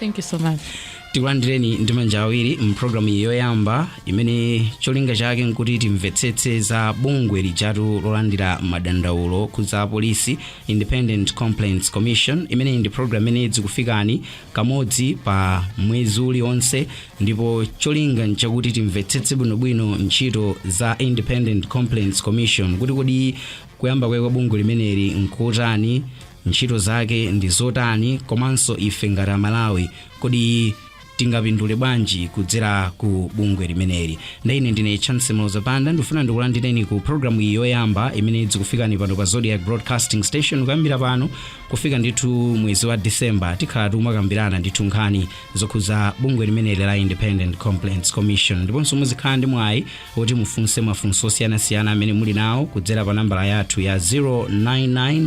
thank you so much tikulandireni ndi manja awiri mpulogalamu iyi yoyamba imene cholinga chake nkuti timvetsetse za bungwe lijatu lolandira madandaulo okhudza polisi independent complaints commission imeneyi ndi pulogalamu imene idzikufikani kamodzi pa mwezi uliwonse ndipo cholinga nchakuti timvetsetse bwinobwino ntchito za independent complaints commission kuti kodi kuyamba kwake kwa bungwe limeneli nkutani ntchito zake ndi zotani komanso ife ngati amalawi kodi tingapindule bwanji kudzera ku bungwe limeneli ndaine ndine chance mloza panda ndikufuna ndikulandireni ku programu iyi yoyamba imene idzikufikani pano pa zodiak broadcasting station kuyambira pano kufika ndithu mwezi wa december tikhala tikumakambirana ndithu nkhani zokhuza bungwe limeneli la independent complaints commission ndiponso muzikhala ndi mwayi woti mufunse mafunso osiyanasiyana amene muli nawo kudzera pa nambala yathu ya 099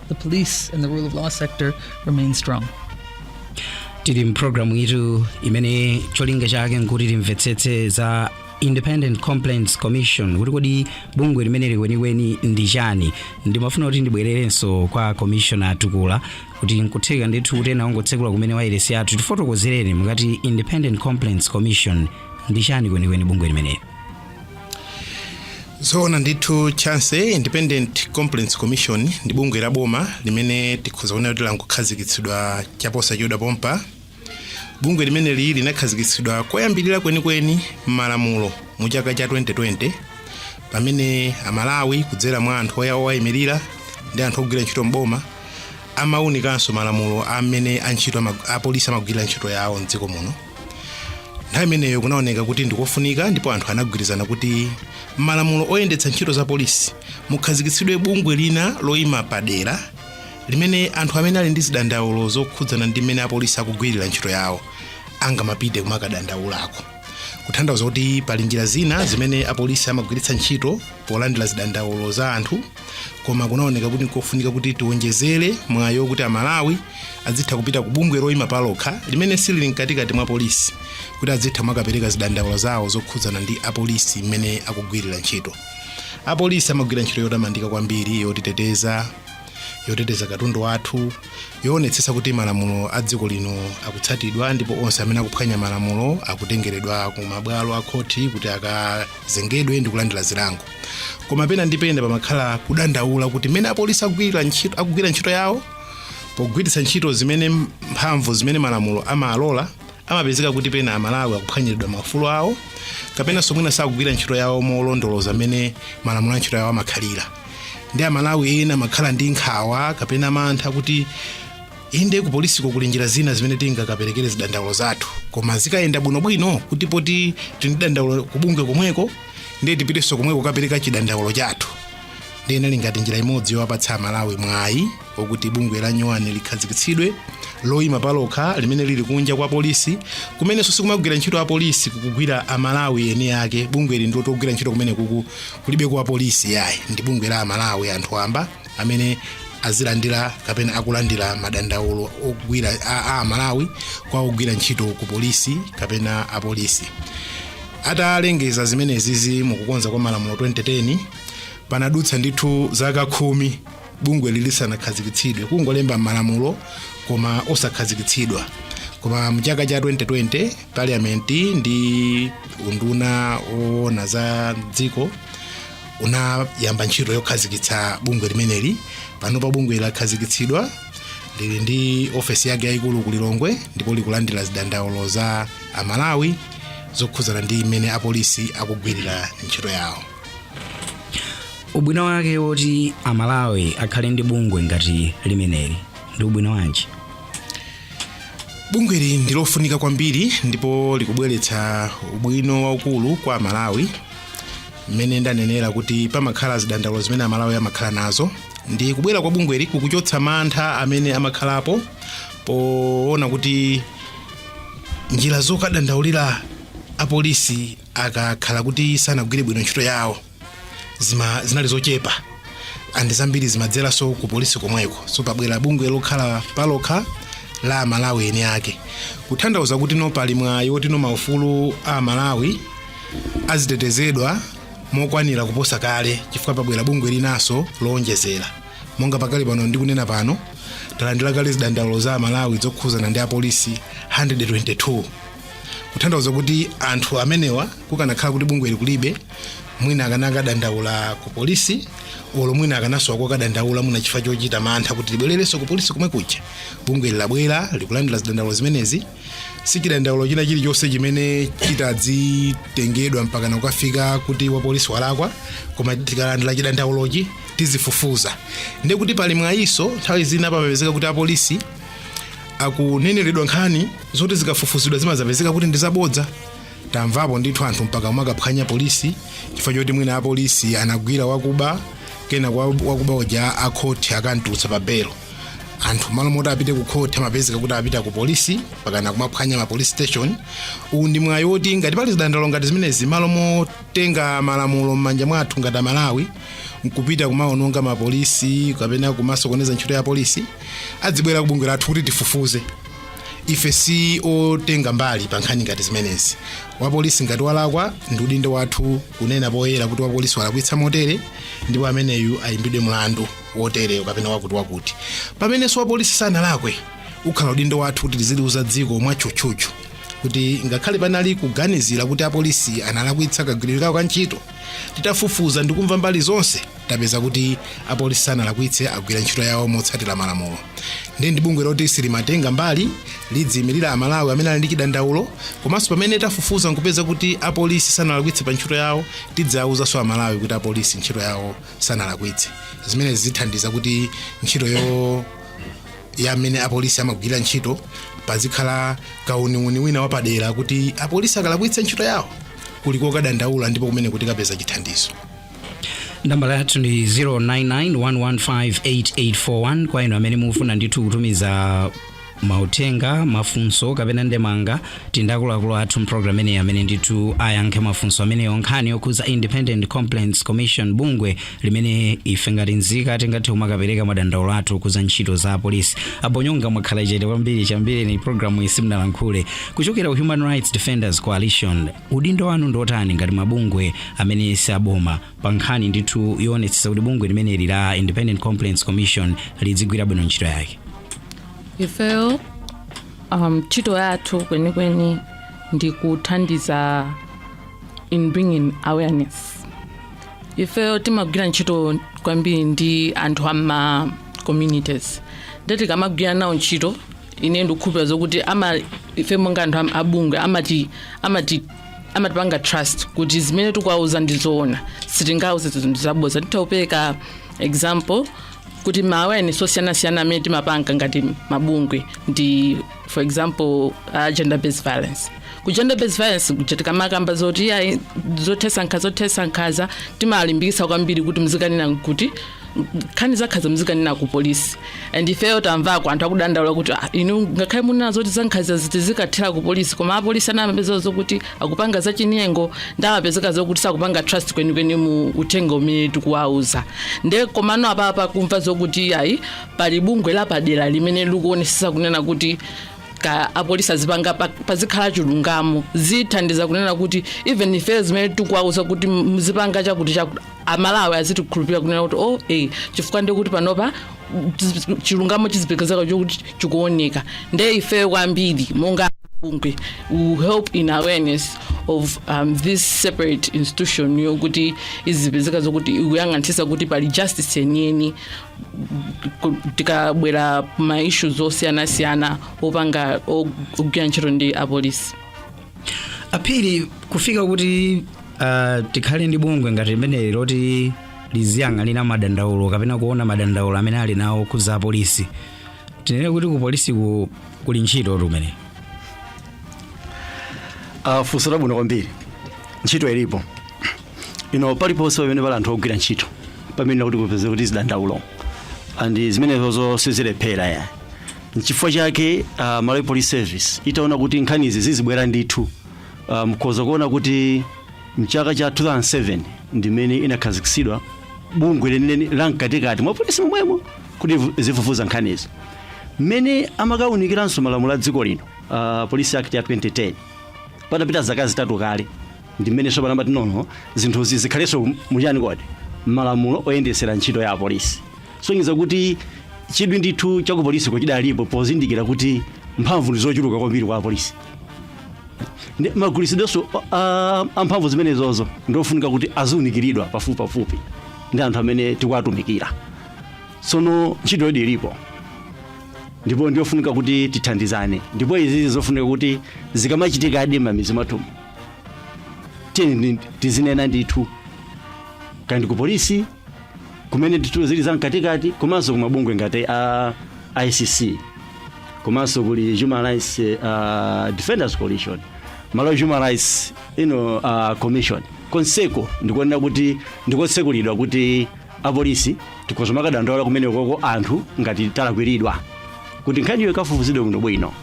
the police and the rule of law sector remain strong. tili mpulogalamu iyitu imene cholinga chake nkuti timvetsetse za independent complaints commission kuti kodi bungwe limeneli kwenikweni ndi chani ndimafuna kuti ndibwererenso kwa commissioner tukula kuti nkutheka ndithu kuti ena angotsekula kumene wailesi yathu tifotokozereni mukati independent complaints commission ndi chani kwenikweni bungwe limeneli zoona ndithu chance independent complaints commission ndi bungwe la boma limene tikhoza kunena kuti langokhazikitsidwa chaposachedwa pompa bungwe limeneli linakhazikitsidwa koyambirira kwenikweni m'malamulo mu chaka cha 2020 pamene amalawi kudzera mwa anthu oya owayimirira ndi anthu ogwira ntchito mboma amaunikanso malamulo amene antchito ama- apolisi amagwirira ntchito yawo mdziko muno nthawi imeneyo kunaoneka kuti ndikofunika ndipo anthu anagwirizana kuti m'malamulo oyendetsa ntchito za polisi mukhazikitsidwe bungwe lina loyima padera limene anthu amene ali ndi zidandaulo zokhudzana ndi mmene apolisi akugwirira ntchito yawo angamapite kumakadandaulako kutanthauza kuti pali njira zina zimene apolisi amagwiritsa ntchito polandira zidandaulo za anthu koma kunaoneka kuti nkofunika kuti tiwonjezere mwayiwo kuti amalawi adzitha kupita ku bungwe loyima palokha limene silili mkatikati mwa polisi kuti adzitha kumakapereka zidandaulo zawo zokhudzana ndi apolisi mmene akugwirira ntchito apolisi amagwira ntchito yotamandika kwambiri yotiteteza yoteteza katundu wathu yoonetsetsa kuti malamulo a dziko lino akutsatidwa ndipo onse amene akuphwanya malamulo akutengeredwa ku mabwalo a khoti kuti akazengedwe ndi kulandira zilango koma pena ndi pena pamakhala kudandaula kuti pamene apolisi akugwira ntchito yawo pogwiritsa ntchito zimene mphamvu zimene malamulo amalola amapezeka kuti pena amalawi akuphwanyiridwa maufulu awo kapenanso mwina sakugwira ntchito yawo molondoloza mmene malamulo a ntchito yawo amakhalira ndiye amalawi ena amakhala ndi nkhawa kapena mantha kuti inde kupolisiko kuli njira zina zimene tingakaperekere zidandaulo zathu koma zikayenda bwinobwino kuti poti tidzidandaula kubungwe komweko ndiye tipitenso komweko kukapereka chidandaulo chathu ndiye inali ngati njira imodzi yowapatsa amalawi mwayi wokuti bungwe la nyowani likhazikitsidwe loyima palokha limene lili kunja kwa polisi kumenenso sikumagwira ntchito apolisi kukugwira amalawi eni ake bungweli ndi loti ogwira ntchito kumeneko kulibe kwa polisi yayi ndi bungwe la amalawi anthu amba amene azilandira kapena akulandira madandaulo ogwira a, a amalawi kwa ogwira ntchito ku polisi kapena apolisi Atalengeza zimenezizi mu kukonza kwa malamulo 2010 panadutsa ndithu zaka khumi bungweli lisanakhazikitsidwe kungolemba malamulo koma osakhazikitsidwa koma mchaka cha 2020 parliament ndi unduna woona za mdziko unayamba ntchito yokhazikitsa bungwe limeneli panopa bungweli lakhazikitsidwa lili ndi ofesi yake yayikulu ku lilongwe ndipo likulandira zidandaulo za amalawi zokhudzana ndi mmene apolisi akugwirira ntchito yawo ubwino wake woti amalawi akhale ndi bungwe ngati limeneli ndi ubwino wanji bungweli ndi lofunika kwambiri ndipo likubweretsa ubwino waukulu kwa amalawi mmene ndanenera kuti pamakhala zidandaulo zimene amalawi amakhala nazo ndiye kubwera kwa bungweli kukuchotsa mantha amene amakhalapo poona kuti njira zokadandaulira apolisi akakhala kuti sanagwire bwino ntchito yawo zima zinali zochepa and zambiri zimadzeranso ku polisi komweko so pabwera bungwe lokhala palokha la amalawi eni ake kuthandauza kuti no pali mwayi woti no maufulu a amalawi azitetezedwa mokwanira kuposa kale chifukwa pabwera bungwe linanso lowonjezera monga pakali pano ndikunena pano talandira kale zidandaulo za amalawi zokhuzana ndi apolisi 122 kutanthauza kuti anthu amenewa kukanakhala kuti bungweli kulibe mwina akanakadandaula ku polisi olo mwina akanasowa kokadandaula mwina chifukwa chochita mantha kuti ndibwererenso ku polisi komwe kuja bungweli labwera likulandira zidandaulo zimenezi si chidandaulo china chilichonse chimene chitazitengedwa mpaka kukafika kuti wapolisi walakwa koma tikalandira chidandaulochi tizifufuza ndiye kuti pali mwayiso nthawi zina pamapezeka kuti apolisi akuneneredwa nkhani zoti zikafufuzidwa zimazapezeka kuti ndi zabodza tamvapo ndithu anthu mpaka umakaphwanya polisi chifukwa choti mwina apolisi anagwira wakuba kenaka wakuba uja akhoti akantulutsa pa belo anthu malo moti apite ku khoti amapezeka kuti apita ku polisi kapena kumaphwanya ma police station uwu ndi mwayi woti ngati pali zidandaulo ngati zimenezi malo motenga malamulo m'manja mwathu ngati amalawi nkupita kumaononga mapolisi kapena kumasokoneza ntchito ya polisi adzibwera ku bungwe lathu kuti tifufuze ife si otenga mbali pa nkhani ngati zimenezi wapolisi ngati walakwa ndi udindo wathu kunena poyera kuti wapolisi walakwitsa motere ndipo ameneyu ayimbidwe mlandu wotereyo kapena wakuti wakuti pamenenso wapolisi sanalakwe ukhala udindo wathu kuti tiziliuza dziko mwatchutchutchu kuti ngakhale panali kuganizira kuti apolisi analakwitsa kagwiridwe kawo ka ntchito titafufuza ndikumva mbali zonse tapeza kuti apolisi sanalakwitse agwira ntchito yawo motsatira malamulo ndi ndi bungwe loti silimatenga mbali lidziyimirira amalawi amene ali ndi chidandaulo komanso pamene tafufuza nkupeza kuti apolisi sanalakwitse pa ntchito yawo tidzawuzanso amalawi kuti apolisi ntchito yawo sanalakwitse zimene zithandiza kuti ntchito yo ya amene apolisi amagwira ntchito pazikhala kauniuni wina wapadera kuti apolisi akalakwitsa ntchito yawo kuli kokadandaula ndipo kumene kutikapeza chithandizo nambala yathu ndi 0991158841 kwa inu amene mufuna ndithu kutumiza mauthenga mafunso kapena ndemanga tindakuluakulu athu mpulogalamu imeneyi amene ndithu ayankhe mafunso ameneyo nkhani yokhuza independent complaints commission bungwe limene ife ngati nzika tingathe kumakapereka madandaulo athu okhuza ntchito za apolisi a Bonyonga mwakhala chete kwambiri chiyambireni pulogalamu iyi simunalankhule kuchokera ku human rights defenders coalition Udindo wanu ndi otani ngati mabungwe amene si aboma pa nkhani ndithu yoonetsetsa kuti bungwe limeneli la Independent Complaints Commission lidzigwira bwino ntchito yake? ifeyo um, ntchito yathu kwenikweni ndi kuthandiza in bringing awareness ifeyo timagwira ntchito kwambiri ndi anthu a m'ma communities nde tikamagwira nawo ntchito ine ndikukhulupira zokuti ama ife monga anthu amabungwe amati amati amatipanga trust kuti zimene tikuwauza ndi zoona sitingawauze zinthu zabodza nditha kupereka example kuti ma awareness osiyanasiyana amene timapanga ngati mabungwe ndi for example uh, gender based violence ku gender based violence kuja tikamakamba zoti iyayi zothesa nkhaza zothesa nkhaza timalimbikisa kwambiri kuti mzikanena kuti nkhani zankhaza mzikanena ku polisi and ifeyo tamvako anthu akudandaula kuti "Ah, inu ngakhale munena zoti zankhaza ziti zikathera ku polisi koma apolisi ena amapezeka zokuti akupanga zachinyengo nde amapezeka zokuti sakupanga trust kwenikweni mu uthenga umene tikuwauza nde komano apapa kumva zokuti iyayi pali bungwe lapadera limene likuonesesa kunena kuti kuti apolisi azipanga pa- pazikhala chilungamo zithandiza kunena kuti even ife zimene tikuwauza kuti muzipanga chakuti chakuti amalawi azitikhulupirira kunena kuti oh eh chifukwa ndekuti panopa tizi- chilungamo chizipezeka chokuti chikuoneka nde ife kwambiri monga bungwe will help in awareness of um, this separate institution yokuti izipezeka zokuti ikuyang'anitsisa kuti pali justice yeniyeni ku- tikabwera ma issues osiyanasiyana opanga ogwira ntchito ndi apolisi aphiri kufika kuti uh, tikhale ndi bungwe ngati limeneli loti liziyang'anira madandaulo kapena kuona madandaulo amene ali nawo okhudza apolisi tinene kuti ku polisi ku, kuli ntchito imene funso labwino kwambiri ntchito ilipo inde paliponse pamene pali anthu ogwira ntchito pameneka kuti kupezeke zidandaulo and zimenezozo sizilephera ya nchifukwa chake uh, malawi police service itaona kuti nkhanizi zizibwera ndithu uh, mkhoza kuona kuti mchaka cha 2007 ndimene inakhazikitsidwa bungwe linalake la mkatikati mwa polisi momwemo kuti vu- zifufuza nkhanizo mmene amakawunikiranso malamulo a dziko lino uh, police act ya 2010 patapita zaka zitatu kale ndi mmene tsopano amati nono zinthuzi zikhalenso muchani kodi malamulo oyendetsera ntchito ya apolisi sonyeza kuti chidwi ndithu cha kupolisi kuchidalipo pozindikira kuti mphamvu ndi zochuluka kwambiri kwa apolisi Ndi- magwiritsidwenso a- a mphamvu zimenezozo ndiofunika kuti aziunikiridwa pafupipafupi ndi anthu amene tikuwatumikira tsono ntchitoyodi ilipo ndipo ndiofunika kuti tithandizane ndipo izi zofunika kuti zikamachitikadi mmidzi mwathumu tiyeni ndi- tizinena ndithu kaya ndi ku polisi kumene ndithu zili za mkatikati komanso kumabungwe ngati a icc komanso kuli human rights uh, defenders coalition malawi human rights you know, uh, commission konseko ndikuonera kuti ndikotsekulidwa kuti apolisi tikhoza kumakadandaula kumenekoko anthu ngati talakwiridwa kuti nkhaniyo ikafufuzidwe bwinobwino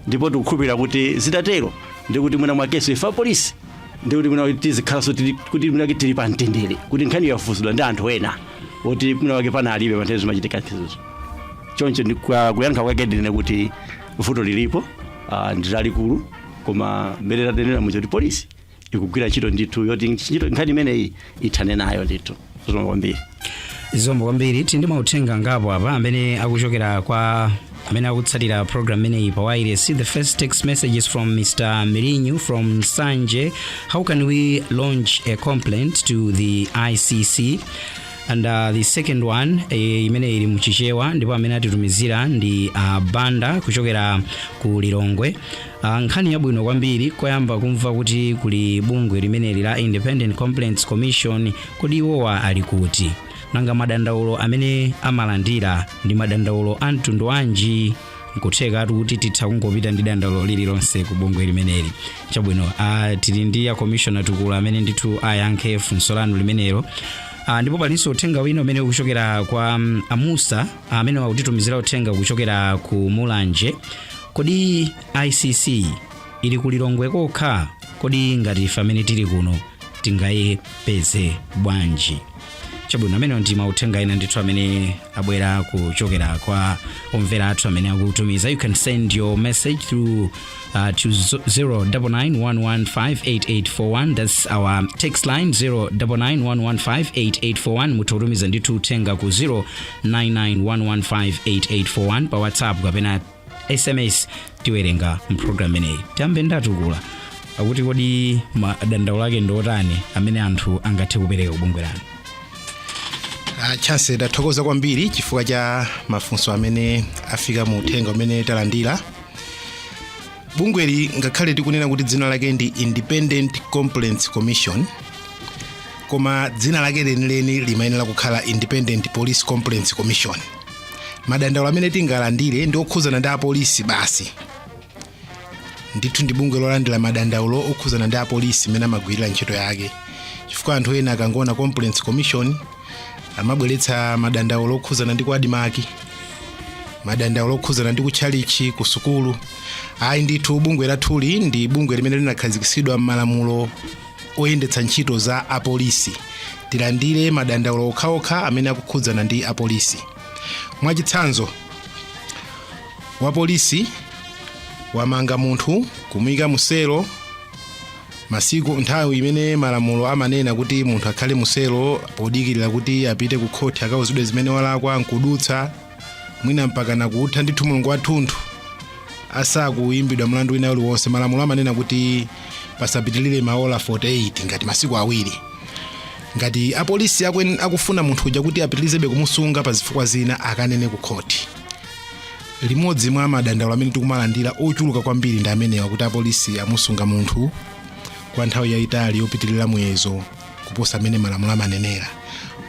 ndipo tikukhulupirira kuti zitatero ndi kuti mwina mwakenso ife apolisi ndi kuti mwina tizikhalanso tili- kuti mwina kuti tili pa mtendere kuti nkhani yafufuzidwa ndi anthu ena oti mwina wake pana alibe panthawi zimachitika nkhanizo choncho ndi kwa- kuyankha kwake ndinene kuti vuto lilipo ah, ndi lalikulu koma mmene tatenera muja kuti polisi ikugwira ntchito ndithu yoti ntchito- nkhani imeneyi ithane nayo ndithu zikomo kwambiri zikomo kwambiri tili ndi mauthenga angapo apa amene akuchokera kwa amene akutsatira program imeneyi pa wireless the first text message is from mr mirinyu from nsanje how can we lodge a complaint to the icc and uh, the second one eh, imene ili mchichewa ndipo amene atitumizira ndi a banda kuchokera ku lilongwe Ah, nkhani yabwino kwambiri koyamba kumva kuti kuli bungwe limeneli la independent complaints commission kodi iwowa ali kuti nanga madandaulo amene amalandira ndi madandaulo a mtundu wanji nkuthekatu kuti titha kungopita ndi dandaulo lililonse ku bungwe limeneli chabwino ah, tili ndi a commissioner tukula amene ndithu ayankhe funso lanu limenelo Ah, ndipo palinso uthenga wina umene ukuchokera kwa mm, a musa amene akutitumizira uthenga kuchokera ku mulanje kodi icc ili ku lilongwe kokha kodi ngati ife amene tili kuno tingayepeze bwanji chabwino amenewo ndi mauthenga ena ndithu amene abwera kuchokera kwa omvera athu amene akutumiza you can send your message through uh, to 0991158841 that's our text line 0991158841 mutha kutumiza ndithu uthenga ku 0991158841 pa whatsapp kapena sms tiwerenga mprogram imeneyi tiyambe ndi a tukula akuti kodi madandaulo ake ndi otani amene anthu angathe kupereka kubungwe lanu Ah, chance ndathokoza kwambiri chifukwa cha mafunso amene afika mu uthenga umene talandira bungweli ngakhale tikunena kuti dzina lake ndi independent complaints commission koma dzina lake lenileni limayenera kukhala independent police complaints commission madandaulo amene tingalandire ndi okhudzana ndi apolisi basi ndithu ndi bungwe lolandira madandaulo okhudzana ndi apolisi mmene amagwirira ntchito yake chifukwa anthu ena akangowona complaints commission amabweretsa madandaulo okhudzana ndi ku admarc madandaulo okhudzana ndi ku tchalitchi ku sukulu ayi ndithu bungwe lathuli ndi bungwe limene linakhazikitsidwa m'malamulo oyendetsa ntchito za apolisi tilandire madandaulo okhaokha amene akukhudzana ndi apolisi mwachitsanzo wapolisi wamanga munthu kumuyika muselo masiku nthawi imene malamulo amanena kuti munthu akhale muselo podikirira kuti apite ku khoti akauzidwe zimene walakwa nkudutsa mwina mpaka nakutha ndithu mulungu wathunthu asakuyimbidwa mlandu wina uliwonse malamulo amanena kuti pasapitilire maola 48 ngati masiku awiri ngati apolisi akwen- akufuna munthu uja kuti apitirizebe kumusunga pa zifukwa zina akanene ku khoti limodzi mwa madandaulo amene tikumalandira ochuluka kwambiri ndi amenewa kuti apolisi amusunga munthu kwa nthawi yayitali yopitirira muyezo kuposa amene malamulo amanenera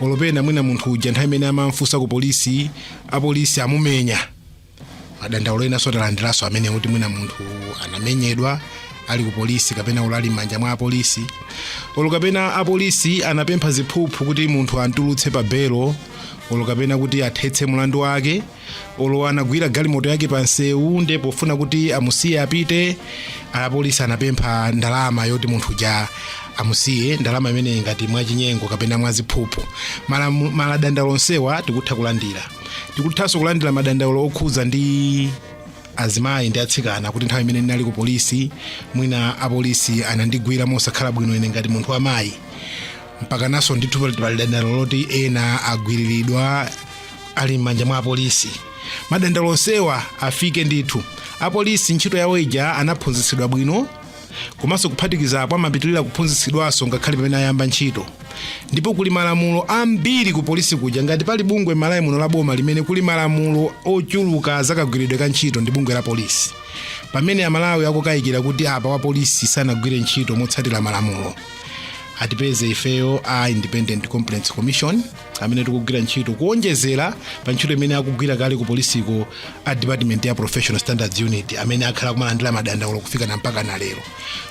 olopena mwina munthu uja nthawi imene amamfunsa ku polisi apolisi amumenya madandaulo enanso talandiranso amene kuti mwina munthu anamenyedwa ali ku polisi kapena ulali m'manja mwa apolisi olo kapena apolisi anapempha ziphuphu kuti munthu amtulutse pa belo olo kapena kuti athetse mlandu wake olo anagwira galimoto yake pa nsewu nde pofuna kuti amusiye apite apolisi anapempha ndalama yoti munthu uja amusiye ndalama imeneyi ngati mwachinyengo kapena mwaziphuphu Malamu- madandaulo onsewa tikutha kulandira tikuthanso kulandira madandaulo okhudzana ndi azimayi ndi atsikana kuti nthawi imene ndinali ku polisi mwina apolisi anandigwira mosakhala bwino ine ngati munthu wamayi mpakanso ndithu pali pali dandaulo loti ena agwiriridwa ali m'manja mwa apolisi madandaulo onsewa afike ndithu apolisi ntchito yawo ija anaphunzitsidwa bwino komanso kuphatikiza apo amapitirira kuphunzitsidwanso ngakhale pamene ayamba ntchito ndipo kuli malamulo ambiri ku polisi kuja ngati pali bungwe malawi muno la boma limene kuli malamulo ochuluka zakagwiridwe ka ntchito ndi bungwe la polisi pamene amalawi akukayikira kuti apa wa polisi sanagwire ntchito motsatira malamulo atipeze ifeyo a independent complaints commission amene tikugwira ntchito kuonjezera pa ntchito imene akugwira kale ku polisiko a department ya professional standards unit amene akhala kumalandira madandaulo kufika na mpaka na lero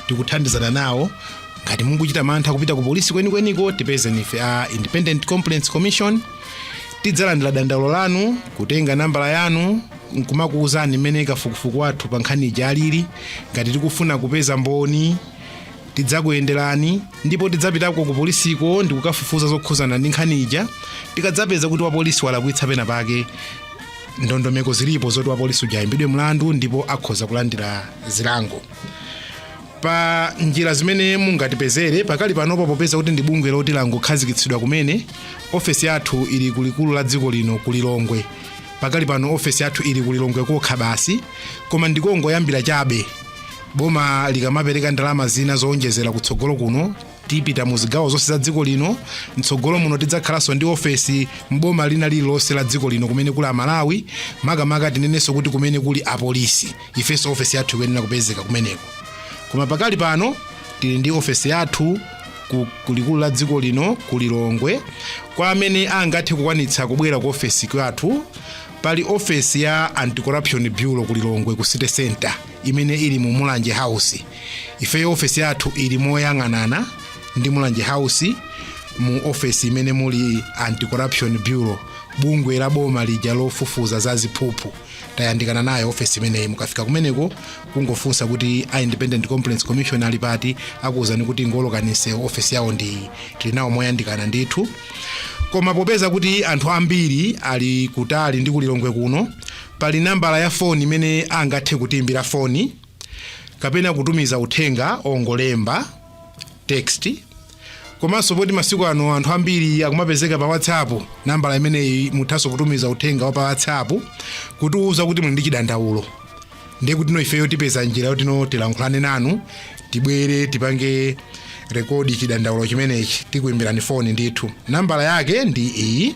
tikuthandizana nawo ngati mukuchita mantha kupita ku polisi kwenikweniko tipezeni ife a independent complaints commission tidzalandira dandaulo lanu kutenga nambala yanu nkumakuwuzani mmene kafukufuku wathu pa nkhani ija alili ngati tikufuna kupeza mboni tidzakuyenderani ndipo tidzapitako ku polisiko ndi kukafufuza zokhuzana ndi nkhani ija tikadzapeza kuti wapolisi walakwitsa pena pake ndondomeko zilipo zoti wapolisi uja ayimbidwe mlandu ndipo akhoza kulandira zilango pa njira zimene mungatipezere pakali panopo popeza kuti ndi bungwe loti langokhazikitsidwa kumene ofesi yathu ili kulikulu la dziko lino ku lilongwe pakali pano ofesi yathu ili ku lilongwe kokha basi koma ndikongoyambira chabe boma likamapereka ndalama zina zowonjezera kutsogolo kuno tipita mu zigawo zonse za dziko lino mtsogolo muno tidzakhalanso ndi ofesi mboma lina lililonse la dziko lino kumene kuli amalawi makamaka tinenenso kuti kumene kuli apolisi ifenso ofesi yathu ikuyenera kupezeka kumeneko koma pakali pano tili ndi ofesi yathu ku- kulikulu la dziko lino ku lilongwe kwa amene angathe kukwanitsa kubwera ku ofesi yathu pali ofesi ya anti-corruption bureau ku lilongwe ku city center imene ili mu mulanje house ifeyo ofesi yathu ili moyang'anana ndi mulanje house mu ofesi imene muli anti-corruption bureau bungwe la boma lija lofufuza za ziphuphu tayandikana nayo ofesi imeneyi mukafika kumeneko kungofunsa kuti a independent complaints commission ali pati akuwuzani kuti ingowolokani ofesi yawo ndi iyi tili nawo moyandikana ndithu koma popeza kuti anthu ambiri ali kutali ndi kulilongwe kuno Pali nambala ya foni imene angathe kutiimbira foni kapena kutumiza uthenga ongolemba text komanso poti masiku ano anthu ambiri akumapezeka pa whatsapp nambala imeneyi muthanso kutumiza uthenga wa pa whatsapp kutiuza kuti muli ndi chidandaulo ndiye kuti no ifeyo tipeza njira yoti no tilankhulane nanu tibwere tipange rekodi chidandaulo chimenechi tikuimbirani foni ndithu nambala yake ndi iyi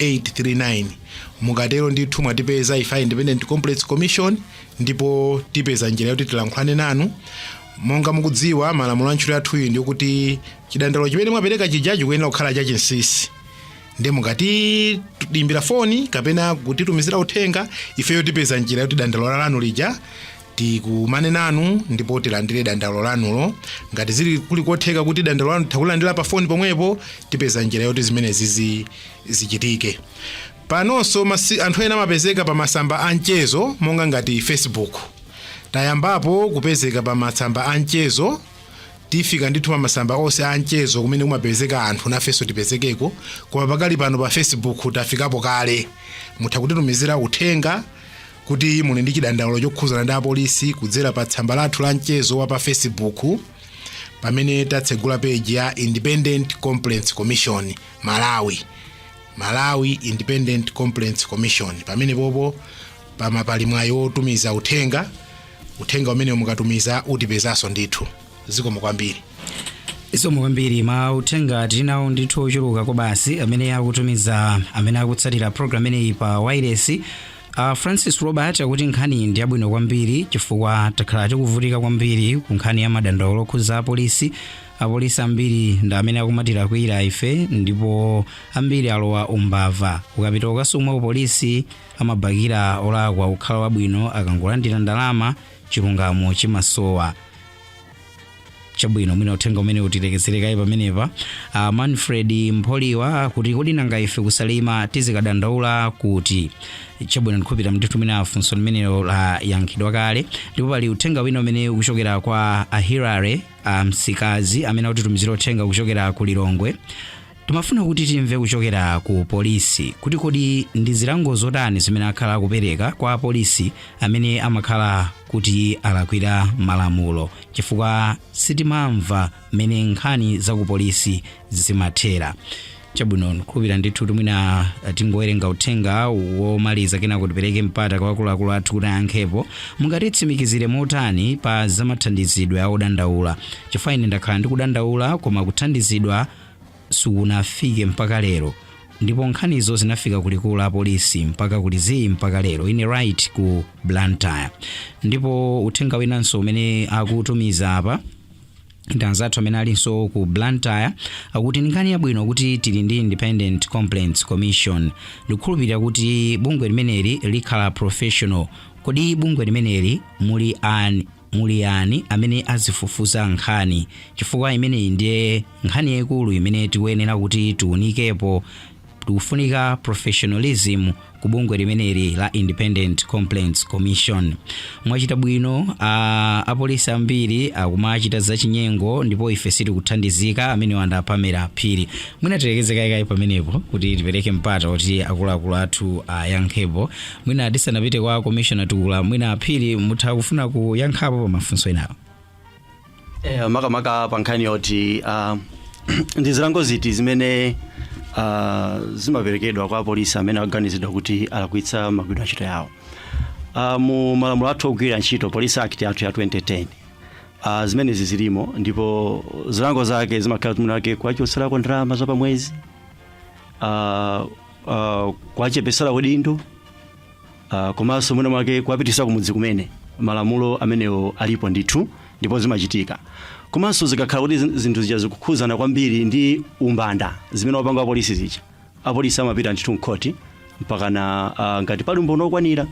839 mukatero ndithu mwatipeza ife a independent complaints commission ndipo tipeza njira yoti tilankhulane nanu monga mukudziwa malamulo a ntchito yathuyi ndi yokuti chidandaulo chimene mwapereka chija chikuyenera kukhala chachinsisi ndiye mukatiimbira foni kapena kutitumizira uthenga ifeyo tipeza njira yoti dandaulo lanu lija tikumane nanu ndipo tilandire dandaulo lanulo ngati zili kuli kotheka kuti dandaulo lanu titha kulandira pa foni pomwepo tipeza njira yoti zimenezi zi- zichitike panonso masi- anthu ena amapezeka pa masamba a mchezo monga ngati facebook tayambapo kupezeka pa masamba a mchezo tifika ndithu pa masamba onse a mchezo kumene kumapezeka anthu nafenso tipezekeko koma pakali pano pa facebook tafikapo kale mutha kutitumizira uthenga kuti muli ndi chidandaulo chokhuzana ndi apolisi kudzera pa tsamba lathu la mchezo wa pa facebook pamene tatsegula peji ya independent complaints commission malawi malawi independent complaints commission pamene popo pama pali mwayi wotumiza uthenga uthenga umene mukatumiza utipezanso ndithu zikomo kwambiri zikomo kwambiri mauthenga tili nawo ndithu ochuluka kwabasi amene akutumiza amene akutsatira program imeneyi pa wailesi A Francis Robert akuti nkhaniyi ndi yabwino kwambiri chifukwa takhala tikuvutika kwambiri ku nkhani ya madandaulo okhuza apolisi. Apolisi ambiri ndi amene akumatilakwira ife ndipo ambiri alowa umbava. Ukapita ukasumwa pa polisi amabakira olakwa kukhala wabwino akangolandira ndalama chilungamo chimasowa. chabwino mwina uthenga umene utilekezere kaye pamenepa uh, manfred mpholiwa akuti, kodi nanga ife ku Salima tizikadandaula kuti chabwino ndikhulupira ndithu mwina funso limenelo layankhidwa kale ndipo pali uthenga wina umene ukuchokera kwa a Hilary uh, msikazi amene akutitumizira uthenga kuchokera ku lilongwe Timafuna kuti timve kuchokera ku polisi kuti kodi ndi zilango zotani zimene akhala akupereka kwa apolisi amene amakhala kuti alakwira malamulo chifukwa sitimamva mmene nkhani za ku polisi zimathera. Chabwino, ndikhulupira ndithu kuti mwina eh, tingowerenga uthenga womaliza kenako tipereke mpata kwa akuluakulu athu kuti ayankhepo. Mungatitsimikizire motani pa zamathandizidwe a odandaula? Chifukwa ine ndakhala ndikudandaula koma kuthandizidwa sikunafike mpaka lero ndipo nkhanizo zinafika ku likulu la polisi mpaka kuli zii mpaka lero ine Bright ku blantyre ndipo uthenga winanso umene akutumiza apa ndi anzathu amene alinso ku blantyre akuti ndi nkhani yabwino kuti tili ndi independent complaints commission ndikukhulupirira kuti bungwe limeneli likhala professional kodi bungwe limeneli muli an Muli yani amene azifufuza nkhani? Chifukwa imeneyi ndiye nkhani yaikulu imene tikuyenera kuti tiunikepo. Tikufunika professionalism ku bungwe limeneli la Independent Complaints Commission. Mwachita bwino apolisi ambiri akumachita zachinyengo ndipo ife sitikuthandizika, amenewa ndi a Pamela Phiri. Mwina tilekezere kaye kaye pamenepo kuti tipereke mpata woti akuluakulu athu ayankhepo. mwina tisanapite kwa commissioner tukula mwina a Phiri mutha kufuna kuyankhapo pa mafunso enawo Eh, makamaka pa nkhani yoti ah, ndi zilango ziti zimene ah, zimaperekedwa kwa apolisi amene aganizidwa kuti alakwitsa magwiridwe ntchito yawo Ah, mu malamulo athu ogwirira ntchito police act yathu ya 2010 ah, zimenezi zilimo ndipo zilango zake zimakhala kuti mwina mwake kuwachotserako ndalama za pamwezi ah, uh, kuwachepesera udindo uh, komanso mwina mwake kuwapitisa kumudzi kumene malamulo amenewo alipo ndithu ndipo zimachitika komanso zikakhala kuti zin- zinthu zija zikukhuzana kwambiri ndi umbanda zimene wapanga apolisi zija apolisi amapita ndithu mkhoti mpakana uh, ngati pali umboni wokwanira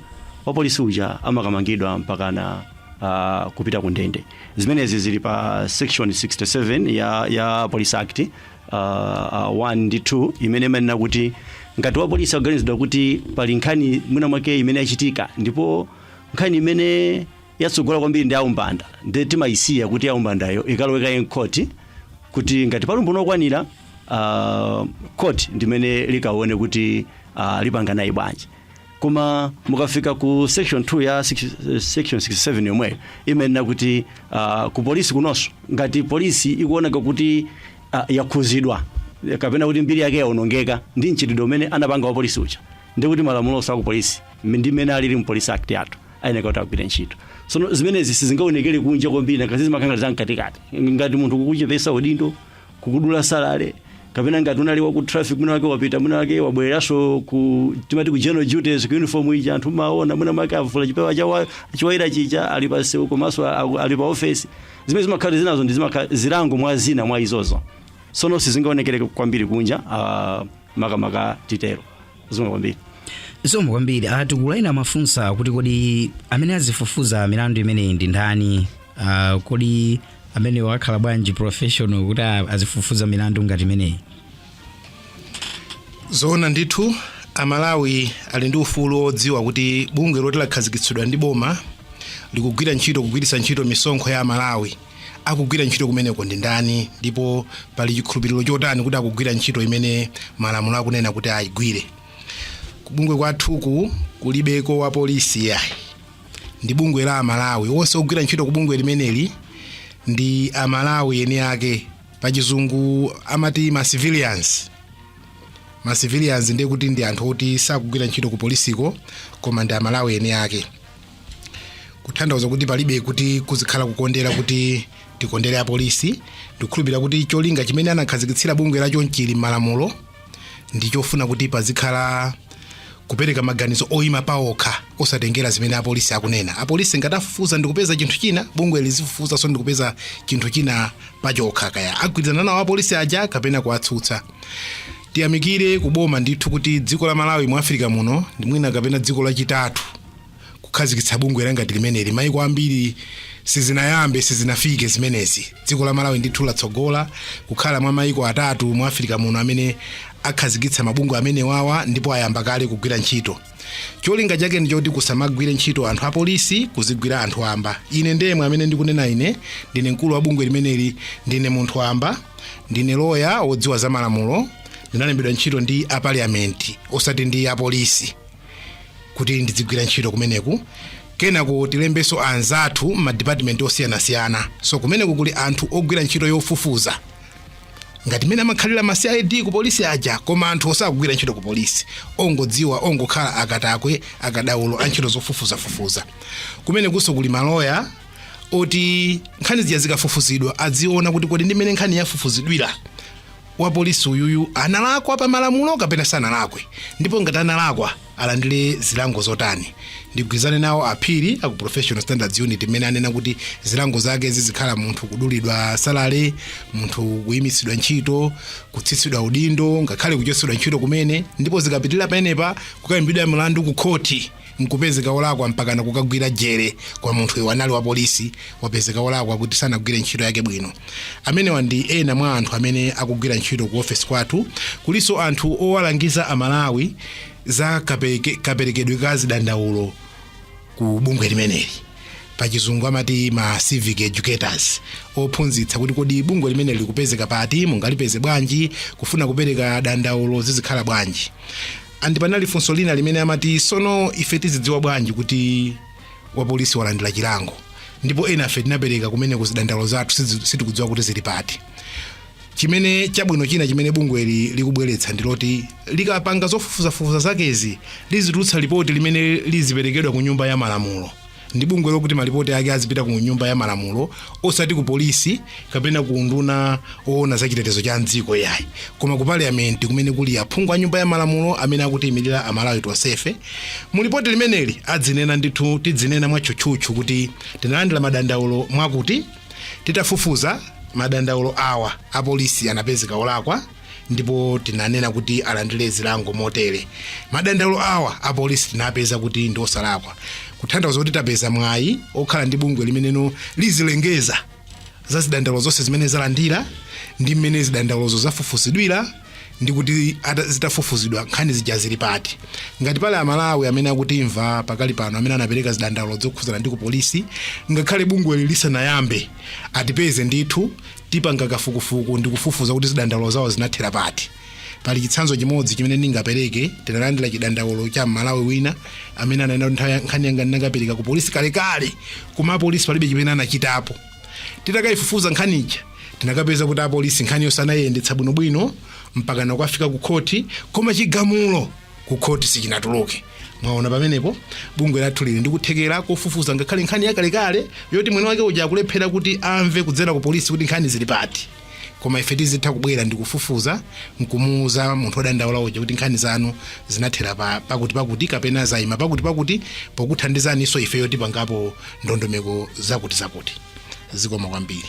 wapolisi uja amakamangidwa mpakana uh, kupita ku ndende zimenezi zili pa section 67 ya, ya police act uh, uh, 1 ndi 2 imene imanena kuti ngati wapolisi akuganizidwa kuti pali nkhani mwina mwake imene yachitika ndipo nkhani imene yatsogola kwambiri ndi yaumbanda nde timayisiya kuti yaumbandayo ikalowekaye mu court kuti ngati pali umboni okwanira uh, court ndimene likaone kuti uh, lipanga naye bwanji Koma mukafika ku section 2 ya six- section 67 yomweyo imanena kuti ah, ku polisi kunonso ngati polisi ikuoneka kuti ah, yakhudzidwa kapena kuti mbiri yake yaonongeka ndi mchitidwe umene anapanga wa polisi uja ndi kuti malamulo onse aku polisi m- ndi mmene alili mu Police Act yathu ayeneka kuti agwire ntchito sono zimenezi sizingaonekere kunja kwambiri ngati zimakhala za mkatikati ngati munthu kukuchepesa udindo kukudula salary kapena ngati unali wa ku traffic mwina mwake wapita mwina mwake wabwereranso ku timati ku general duties ku uniform ija anthu amaona mwina mwake avula chipewa chawa choyera chija ali pa sewu komanso aku- ali pa office zimene zimakhala zinazo ndi zimakhala zilango mwa zina mwa izozo sono sizingaonekere kwambiri kunja uh, makamaka titero zikomo kwambiri zikomo kwambiri a Tukula ena amafunsa kuti kodi amene azifufuza milandu imeneyi ndi ndani uh, kodi amenewo akhala bwanji professional kuti a- azifufuza milandu ngati imeneyi zoona ndithu amalawi ali ndi ufulu wodziwa kuti bungwe loti lakhazikitsidwa ndi boma likugwira ntchito kugwiritsa ntchito misonkho ya amalawi Akugwira ntchito kumeneko ndi ndani, ndipo pali chikhulupiriro chotani kuti akugwira ntchito imene malamulo akunena kuti ayigwire? Kubungwe kwathuku kulibeko wapolisi yayi, ndi bungwe la Amalawi. Onse ogwira ntchito ku bungwe limeneli ndi Amalawi eni ake, pachizungu amati ma civilians ma civilians ndiye kuti ndi anthu oti sakugwira ntchito ku polisiko koma ndi Amalawi eni ake. kutanthauza kuti palibe kuti kuzikhala kukondera kuti tikondere apolisi ndikukhulupirira kuti cholinga chimene anakhazikitsira bungwe la chonchili malamulo ndi chofuna kuti pazikhala kupereka maganizo oyima paokha osatengera zimene apolisi akunena apolisi ngati afufuza ndikupeza chinthu china bungwe lizifufuzanso ndikupeza chinthu china pachokha kaya agwirizana nawo apolisi aja kapena akuwatsutsa tiyamikire kuboma ndithu kuti dziko la malawi mu afirika muno ndi mwina kapena dziko lachitatu kukhazikitsa bungwe langati limeneli maiko ambiri sizinayambe sizinafike zimenezi dziko la malawi ndithu latsogola kukhala mwa maiko atatu mu afirika muno amene akhazikitsa mabungwe amenewawa ndipo ayamba kale kugwira ntchito cholinga chake ndichoti kusamagwire ntchito anthu apolisi kuzigwira anthu amba ine ndemwe amene ndikunena ine ndine mkulu wa bungwe limeneli ndine munthu wamba ndine lawyer wodziwa za malamulo ndinalembedwa ntchito ndi a parliament osati ndi apolisi kuti ndidzigwira ntchito kumeneku kenako tilembanso anzathu m'madipatimenti osiyanasiyana so kumeneku kuli anthu ogwira ntchito yofufuza ngati mmene amakhalira ma cid ku polisi aja koma anthu osagwira ntchito ku polisi ongodziwa ongokhala akatswiri akadaulo a ntchito zofufuzafufuza kumenekunso kuli maloya oti nkhani zija zikafufuzidwa adziona kuti kodi ndi mmene nkhani yafufuzidwira wapolisi uyuyu analakwa pa malamulo kapena sanalakwe ndipo ngati analakwa alandire zilango zotani ndigwirizane nawo aphiri aku professional standards unit mmene anena kuti zilango zake zizikhala munthu kudulidwa salale munthu kuyimitsidwa ntchito kutsitsidwa udindo ngakhale kuchotsedwa ntchito kumene ndipo zikapitirira pamenepa kukayimbidwa mlandu ku khoti nkupezeka olakwa mpakana kukagwira jere kwa munthu uyu anali wa polisi wapezeka olakwa kuti sanagwire ntchito yake bwino amenewa ndi ena mwa anthu amene akugwira ntchito ku ofesi kwathu kulinso anthu owalangiza amalawi za kaperekedwe ka zidandaulo ku bungwe limeneli pachizungu amati ma civic educators ophunzitsa kuti kodi bungwe limeneli likupezeka pati mungalipeze bwanji kufuna kupereka dandaulo zizikhala bwanji And panali funso lina limene amati sono ife tizidziwa bwanji kuti wapolisi walandira chilango ndipo ena a ife tinapereka kumene zidandaulo zathu sitikudziwa kuti zili pati chimene chabwino china chimene bungweli likubweretsa ndi loti likapanga zofufuzafufuza zakezi lizitulutsa lipoti limene liziperekedwa ku nyumba ya malamulo ndi bungwe lokuti malipoti ake azipita ku nyumba ya malamulo osati ku polisi kapena ku unduna woona za chitetezo cha mdziko yayi koma ku parliament kumene kuli aphungu a nyumba ya malamulo amene akutiyimirira amalawi tonsefe mu lipoti limeneli adzinena ndithu tidzinena mwatchutchutchu kuti tinalandira madandaulo mwakuti titafufuza madandaulo awa apolisi anapezeka olakwa ndipo tinanena kuti alandire zilango motere madandaulo awa apolisi tinapeza kuti ndi osalakwa kutanthauza kuti tapeza mwayi okhala ndi bungwe limene lizilengeza za zidandaulo zonse zimene zalandira ndi mmene zidandaulozo zafufuzidwira ndi kuti ata- zitafufuzidwa nkhani zija zili pati ngati pali amalawi amene akutimva pakali pano amene anapereka zidandaulo zokhudzana ndi ku polisi ngakhale bungweli lisanayambe atipeze ndithu Tipanga kafukufuku ndi kufufuza kuti zidandaulo zawo zinathera pati. Pali chitsanzo chimodzi chimene ndingapereke, tinalandira chidandaulo cha Mmalawi wina amene ananena nthawi nkhani yanga ndinakapereka ku polisi kalekale, koma apolisi palibe chimene anachitapo. Titakayifufuza nkhani ija tinakapeza kuti apolisi nkhani yonse anayiyendetsa bwinobwino mpaka nakukafika ku khoti, koma chigamulo ku khoti sichinatuluke mwaona pamenepo bungwe lathu lili ndikuthekera kofufuza ngakhale nkhani yakalekale yoti mwini wake uja akulephera kuti amve kudzera ku polisi kuti nkhani zili pati koma ife tizitha kubwera ndi kufufuza nkumuuza munthu odandaula uja kuti nkhani zanu zinathera pakuti pakuti kapena zayima pakuti pakuti pokuthandizaninso ife yoti pangapo ndondomeko zakuti zakuti zikomo kwambiri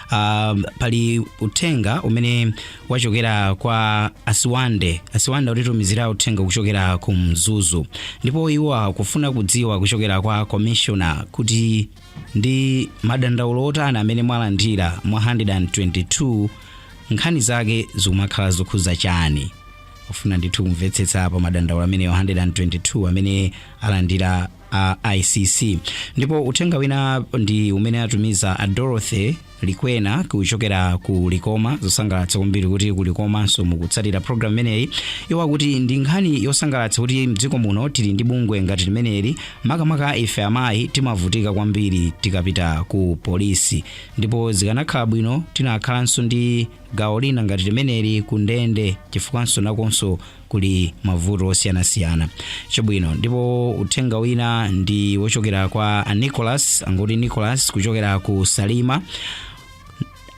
uh, pali uthenga umene wachokera kwa asiwande asiwande atitumizira uthenga kuchokera ku mzuzu ndipo iwo akufuna kudziwa kuchokera kwa commissioner kuti ndi madandaulo otani amene mwalandira mwa 122 nkhani zake zikumakhala zokhuza chani ofuna ndithu kumvetsetsa pa madandaulo ameneyo 122 amene alandira a icc ndipo uthenga wina ndi umene atumiza a dorothy likwena kuchokera ku likoma zosangalatsa kwambiri kuti ku likomanso mukutsatira programu imeneyi iwo akuti ndi nkhani yosangalatsa kuti mdziko muno tili ndi bungwe ngati limeneli makamaka ife amayi timavutika kwambiri tikapita ku polisi ndipo zikanakhala bwino tinakhalanso ndi gawo lina ngati limeneli ku ndende chifukwanso nakonso kuli mavuto osiyanasiyana chabwino ndipo uthenga wina ndi wochokera kwa a nicholas angoti nicholas kuchokera ku salima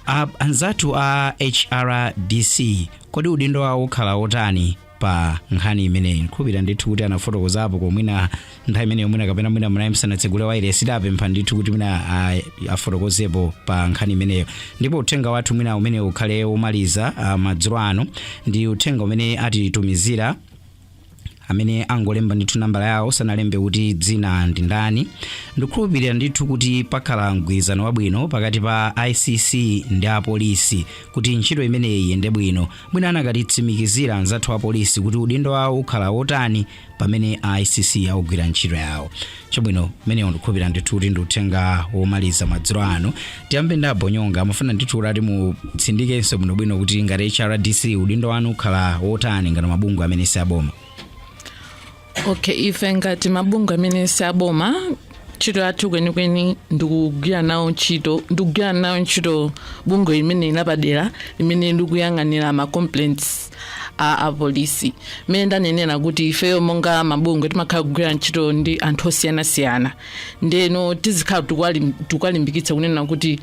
a, anzathu a hrdc kodi udindo wawo ukhala wotani pa nkhani imeneyi nkhulupira ndithu kuti anafotokozapo komwina nthawi imeneyo mwina kapena mwina munali musanatsegule wailesi tiwapempha ndithu kuti mwina ah, afotokozepo pa nkhani imeneyo ndipo uthenga wathu mwina umene ukhale womaliza ah, madzulo ano ndi uthenga umene atitumizira amene angolemba ndithu nambala yawo sanalembe kuti dzina ndi ndani ndikukhulupirira ndithu kuti pakhala mgwirizano wabwino pakati pa icc ndi apolisi kuti ntchito imeneyi iyende bwino mwina anakatitsimikizira anzathu apolisi kuti udindo wawo ukhala wotani pamene a icc akugwira ntchito yawo chabwino umenewo ndikukhulupirira ndithu kuti ndi uthenga womaliza madzulo ano tiyambe ndi a bonyonga amafuna ndithu kuti ati mutsindikenso bwinobwino kuti ngati hrdc udindo wanu ukhala wotani ngati mabungwe amene si aboma okay ife ngati mabungwe amene si aboma ntchito yathu kwenikweni ndikugwira nawo ntchito ndikugwira nawo ntchito bungwe limeneli lapadera limene likuyang'anira ma complaints a apolisi mmene ndanenera kuti ifeyo monga mabungwe timakhala kugwira ntchito ndi anthu osiyanasiyana ndeno tizikhala tikuwalim- tikuwalimbikitsa kunena kuti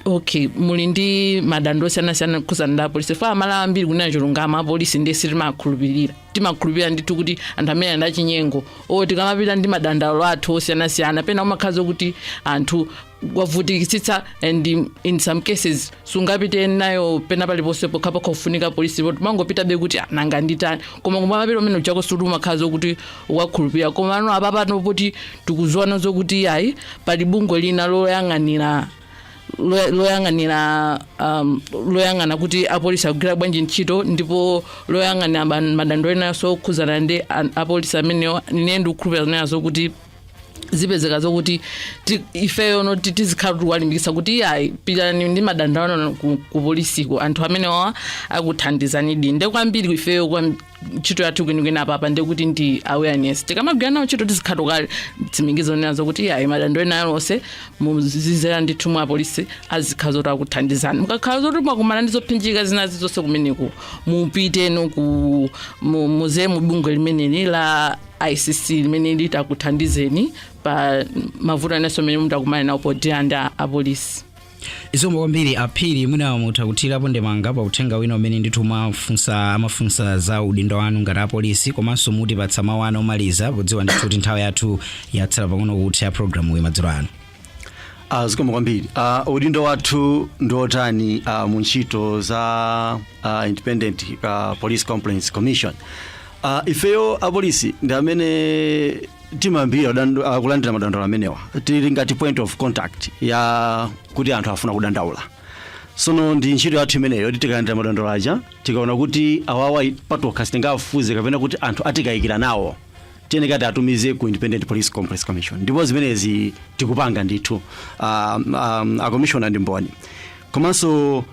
okay muli ndi madandaulo osiyanasiyana okhuzana ndi apolisi ife amalawi ambiri kunena chilungamo apolisi ndiye sitimakhulupirira timakhulupirira ndithu kuti anthu amene ndi achinyengo o tikamapita ndi madandaulo athu osiyanasiyana pena umakhala zakuti munthu wavutikitsitsa and in- in some cases sungapite nayo pena paliponse pokhapokha kufunika polisi ndipo umangopitabe kuti "Ah, nanga nditani koma kumapita umene uchako suli umakhala zakuti wakhulupirira koma no apapano poti tikuziwano zokuti iyayi pali bungwe lina loyang'anira lo- loyang'anira um, loyang'ana kuti apolisi akugwira bwanji ntchito ndipo loyang'anira ma- madandaulo enanso okhuzana ndi an- apolisi amenewo ine ndikukhulupirira nenazo kuti zipezeka zokuti ti- ifeyo no ti- tizikhala tikuwalimbikisa kuti iyayi pitani ndi madandaulo anu ku, ku polisiko anthu amenewa akuthandizanidi nde kwambiri ifeyo kwam- ntchito yathu kwenikweni apapa ndiye kuti ndi awareness tikamagwira nawo ntchito tizikhala kale tsimikizo nenazo kuti yayi madandaulo ena alionse muzidzera ndithu mwa apolisi azikhala zoti akuthandizani mukakhala zoti mwakumana ndi zophinjika zina zilizonse kumeneko mupiteno ku mu- muze mu bungwe limeneli la icc limene litakuthandizeni pa mavuto enanso amene mutakumane nawo podzera ndi a- apolisi zikomo kwambiri aphiri mwina mutha kuthirapo ndemanga pa uthenga wina umene ndithu mwafunsa amafunsa za udindo wanu ngati apolisi komanso mutipatse mawu anu omaliza podziwa ndithu kuti nthawi yathu yatsala pang'ono kutha mu programu iyi madzulo ano Ah, zikomo kwambiri ah, udindo wathu ndi otani ah, mu ntchito za ah, independent ah, police complaints commission ah, ifeyo apolisi ndi amene timayambirira dandu- kulandira madandaulo amenewa tili ngati point of contact ya kuti anthu afuna kudandaula sono ndi ntchito yathu imeneyo yoti tikalandira madandaulo aja tikaona kuti awawa patokha sitingafufuze kapena kuti anthu atikayikira nawo tiyeneka tiwatumize ku independent police complaints commission ndipo zimenezi tikupanga ndithu um, um, akomishona ndi mboni komanso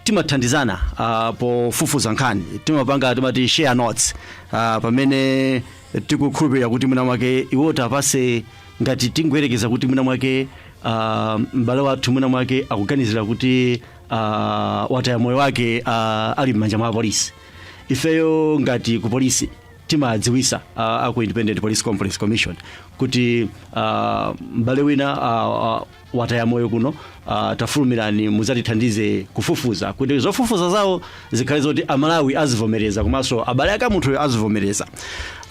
timathandizana uh, pofufuza nkhani timapanga timati share notes uh, pamene tikukhulupirira kuti mwina mwake iwo tawapatse ngati tingoyerekeza kuti mwina mwake uh, m'bale wathu mwina mwake akuganizira kuti uh, wataya moyo wake uh, ali m'manja mwa apolisi ifeyo ngati ku polisi timadziwisa uh, aku independent police complaints commission kuti uh, m'bale wina uh, uh, wataya moyo kuno uh, tafulumirani mudzatithandize kufufuza kuti zofufuza zawo zikhale zoti amalawi azivomereza komanso abale ake amunthuyo azivomereza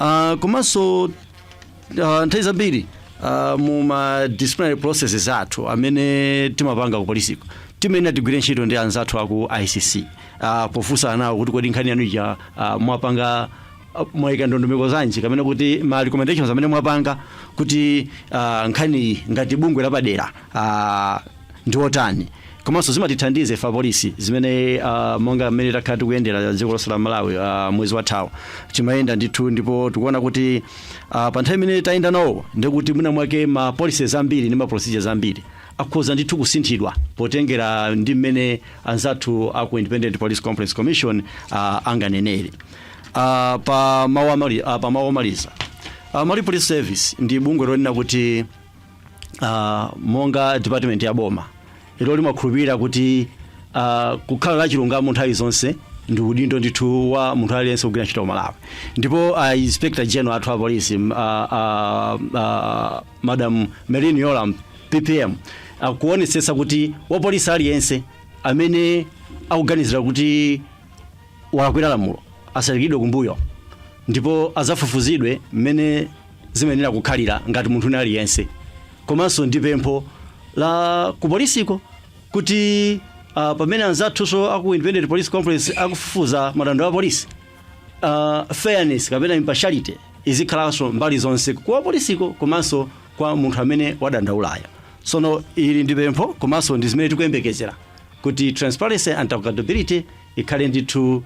uh, komanso uh, nthawi zambiri uh, mu ma disciplinary processes athu amene timapanga ku polisiko timayenera tigwire ntchito ndi anzathu aku icc uh, pofunsana nawo kuti kodi nkhani yanu ija uh, mwapanga uh, mwaika ndondomeko zanji kapena kuti ma recommendations amene mwapanga kuti uh, nkhaniyi ngati bungwe lapadera uh, ndi otani komanso zimatithandiza ife apolisi zimene uh, monga mmene takhala tikuyendera dziko lonse la malawi uh, mwezi wathawu timayenda ndithu ndipo tikuona kuti uh, pa nthawi imene tayenda nawo ndikuti mwina mwake ma policies ambiri ndi ma procedures ambiri akhoza ndithu kusinthidwa potengera ndi mmene anzathu aku independent police complaints commission uh, anganenere Ah, pa mawu amali ah, pa mawu omaliza ah, Malawi Police Service ndi bungwe lonena kuti ah, monga department ya boma ilo limakhulupirira kuti ah, kukhala la chilungamo nthawi zonse ndi udindo ndithu wa munthu aliyense kugwira ntchito Malawi ndipo ah, inspector general athu a polisi m- ah, ah, ah, madam Merlyne Yolamu PPM akuonetsetsa kuti wapolisi aliyense amene akuganiziridwa kuti walakwira lamulo asaikiridwe kumbuyo ndipo azafufuzidwe mmene zimayenera kukhalira ngati munthu wina aliyense komanso ndi pempho la kupolisiko kuti uh, pamene anzathunso aku independent police complaints akufufuza madandaulo a polisi uh, fairness kapena impartiality izikhalanso mbali zonse kwa polisiko komanso kwa munthu amene wadandaulayo sono ili ndi pempho komanso ndi zimene tikuyembekezera kuti transparency and accountability ikhale ndithu uh,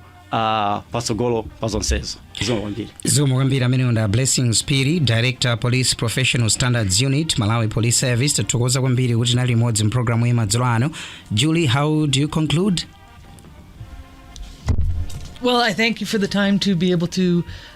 patsogolo pa zonsezo zikomo kwambiri zikomo kwambiri ameneyo ndi a blessings phiri director police professional standards unit malawi police service tathokoza kwambiri kuti tinali limodzi mpulogalamu ya madzulo ano julie how do you conclude Well, I thank you for the time to be able to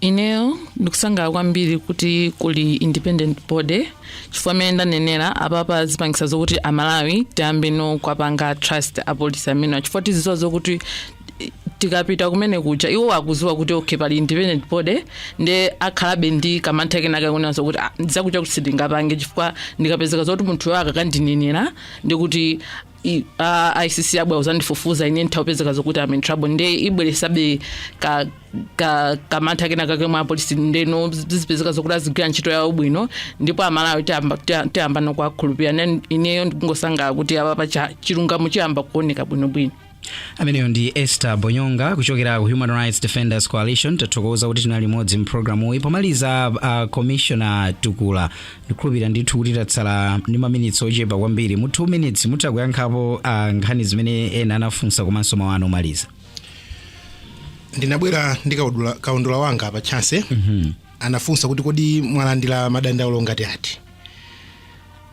ineyo ndikusangalala kwambiri kuti kuli independent body chifukwa mmene ndanenera apapa zipangisa zokuti amalawi tiyambeno kuwapanga trust apolisi amenewa chifukwa tiziziwa zokuti i- tikapita kumene kuja iwo akuziwa kuti okay pali independent body nde akhalabe ndi kamantha kenakake kunena zokuti "Ah, zakutizakuti sindingapange chifukwa ndikapezeka zoti munthuyo akakandinenera ndikuti i- a a icc abwera kuzandifufuza ine nditha kupezeka zokuti am in trouble nde ibweresabe ka ka kamantha kena kake mwa apolisi ndeno zizipezeka zokuti azigwira ntchito yawo bwino ndipo amalawi tiyamba- tiya- tiyambano kuwakhulupirira Nen- ineyo ndikungosangalala kuti apapa cha- chilungamo chiyamba kuoneka bwinobwino ameneyo ndi esther bonyonga kuchokera ku human rights defenders coalition tathokoza kuti tinali limodzi mpulogalamu iyi pomaliza uh, commissioner tukula ndikukhulupirira ndithu kuti tatsala ndi maminitsi ochepa kwambiri mu 2 minutes mutha kuyankhapo ah, nkhani zimene ena anafunsa komanso mawu anu omaliza ndinabwera ndi kaudula- kaundula wanga pa Chance anafunsa kuti kodi mwalandira madandaulo ngati ati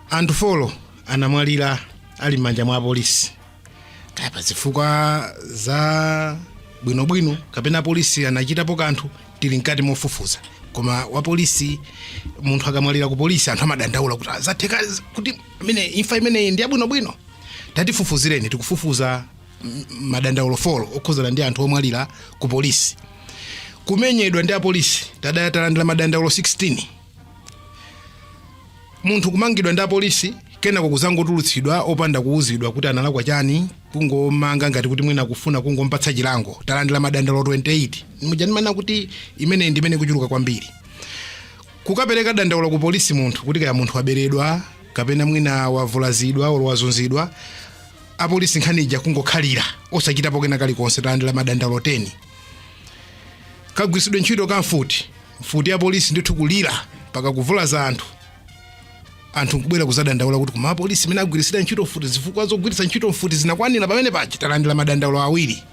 anthu folo anamwalira ali m'manja mwa apolisi kaya pa zifukwa za bwinobwino kapena apolisi anachitapo kanthu tili mkati mofufuza koma wapolisi munthu akamwalira ku polisi anthu amadandaula kuti zatheka kuti koma imfa imeneyi ndi yabwinobwino tatifufuzireni tikufufuza m- madandaulo folo okhuzana ndi anthu omwalira ku polisi kumenyedwa ndi apolisi tada- talandira madandaulo 16 munthu kumangidwa ndi apolisi kenako kuzangotulutsidwa opanda kuwuzidwa kuti analakwa chani kungomanga ngati kuti mwina kufuna kungompatsa chilango talandira madandaulo 28 muzindimva kuti imeneyi ndi imene ikuchuluka kwambiri kukapereka dandaulo ku polisi munthu kuti kaya munthu waberedwa kapena mwina wavulazidwa olo wazunzidwa apolisi nkhani ija kungokhalira osachitapo kena kalikonse talandira madandaulo 10 kagwiritsidwe ntchito ka mfuti mfuti ya polisi ndithu kulira mpaka kuvulaza anthu anthu nkubwera kuzadandaula kuti koma apolisi mmene agwiritsira ntchito mfuti zifukwa zogwiritsa ntchito mfuti zinakwanira pamene paja talandira madandaulo awiri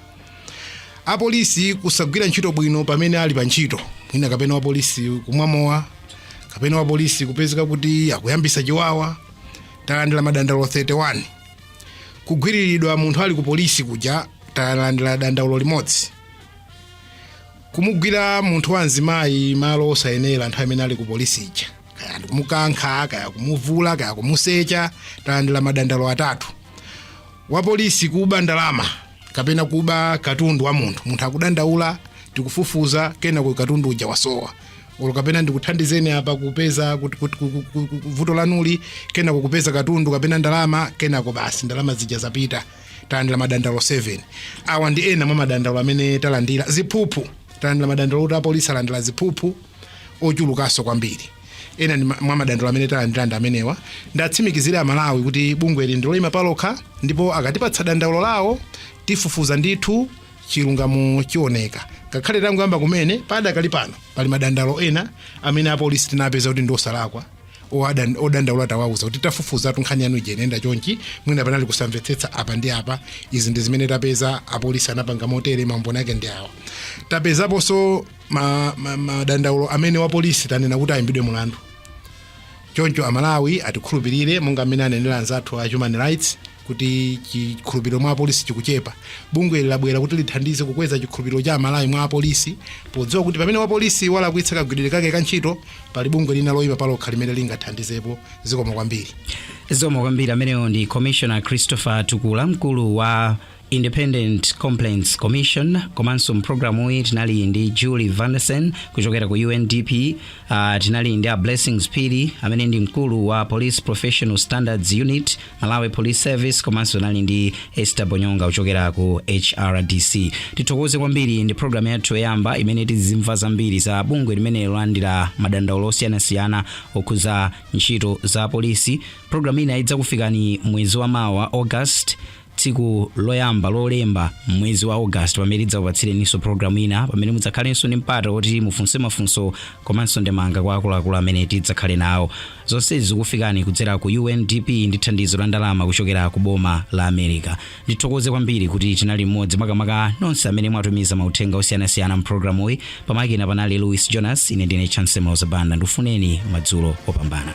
apolisi kusagwira ntchito bwino pamene ali pa ntchito mwina kapena wapolisi kumwa mowa kapena wapolisi kupezeka kuti akuyambisa chiwawa talandira madandaulo 31 kugwiriridwa munthu ali ku polisi kuja talandira dandaulo limodzi kumugwira munthu wa mzimayi malo osayenera nthawi imene ali ku polisi ija kaya ndikumukankha kaya kumuvula kaya kumusecha talandira madandaulo atatu wa polisi kuba ndalama kapena kuba katundu wa munthu munthu akudandaula tikufufuza kenako katundu uja wasowa olo kapena ndikuthandizeni apa kupeza kuti- kuti- ku- ku- ku- ku- vuto lanuli kenako kupeza katundu kapena ndalama kenako basi ndalama zija zapita talandira madandaulo 7 awa ndi ena mwa madandaulo amene talandira ziphuphu talandira madandaulo kuti apolisi alandira ziphuphu ochulukanso kwambiri ena ndi ma- mwa madandaulo amene talandira ndi amenewa ndiwatsimikizire amalawi kuti bungweli ndi loyima palokha ndipo akatipatsa dandaulo lawo tifufuza ndithu chilungamo chioneka ngakhale tangoyamba kumene padakali pano pali madandaulo ena amene apolisi tinapeza kuti ndi osalakwa owadan- odandaula tawauza kuti tafufuzatu nkhani yanu ija inayenda chonchi mwina panali kusamvetsetsa apa ndi apa izi ndi zimene tapeza apolisi anapanga motere maumboni ake ndi awa tapezaponso madandaulo ma, ma madandaulo amene wapolisi tanena kuti ayimbidwe mulandu choncho amalawi atikhulupirire monga mmene anenera anzathu a human rights kuti chikhulupiriro mwa apolisi chikuchepa bungweli labwera kuti lithandize kukweza chikhulupiriro cha amalawi mwa apolisi podziwa kuti pamene wapolisi walakwitsa kagwiridwe kake ka ntchito pali bungwe lina loyima palokha limene lingathandizepo zikomo kwambiri zikomo kwambiri ameneyo ndi commissioner christopher tukula mkulu wa independent complaints commission komanso mpulogalamu iyi tinali ndi julie vanderson kuchokera ku undp uh, tinali ndi a blessings phiri amene ndi mkulu wa police professional standards unit malawi police service komanso tinali ndi esther bonyonga kuchokera ku hrdc tithokoze kwambiri ndi programu yathu yoyamba imene tizimva zambiri za bungwe limeneli lolandira madandaulo osiyanasiyana okhuza ntchito za polisi programu ina idzakufikani mwezi wa mawa august tsiku loyamba lolemba mwezi wa august pamene tidzakupatsireninso programu ina pamene mudzakhalenso ndi mpata woti mufunse mafunso komanso ndemanga kwa akuluakulu amene tidzakhale nawo Zonsezi zikufikani kudzera ku UNDP ndi thandizo la ndalama kuchokera ku boma la America. Ndithokoze kwambiri kuti tinali limodzi makamaka nonse amene mwatumiza mauthenga osiyanasiyana mpulogalamuyi. Pamakina panali Louis Jonas, ine ndine Chancy Mauza Banda. Ndikufunireni madzulo opambana.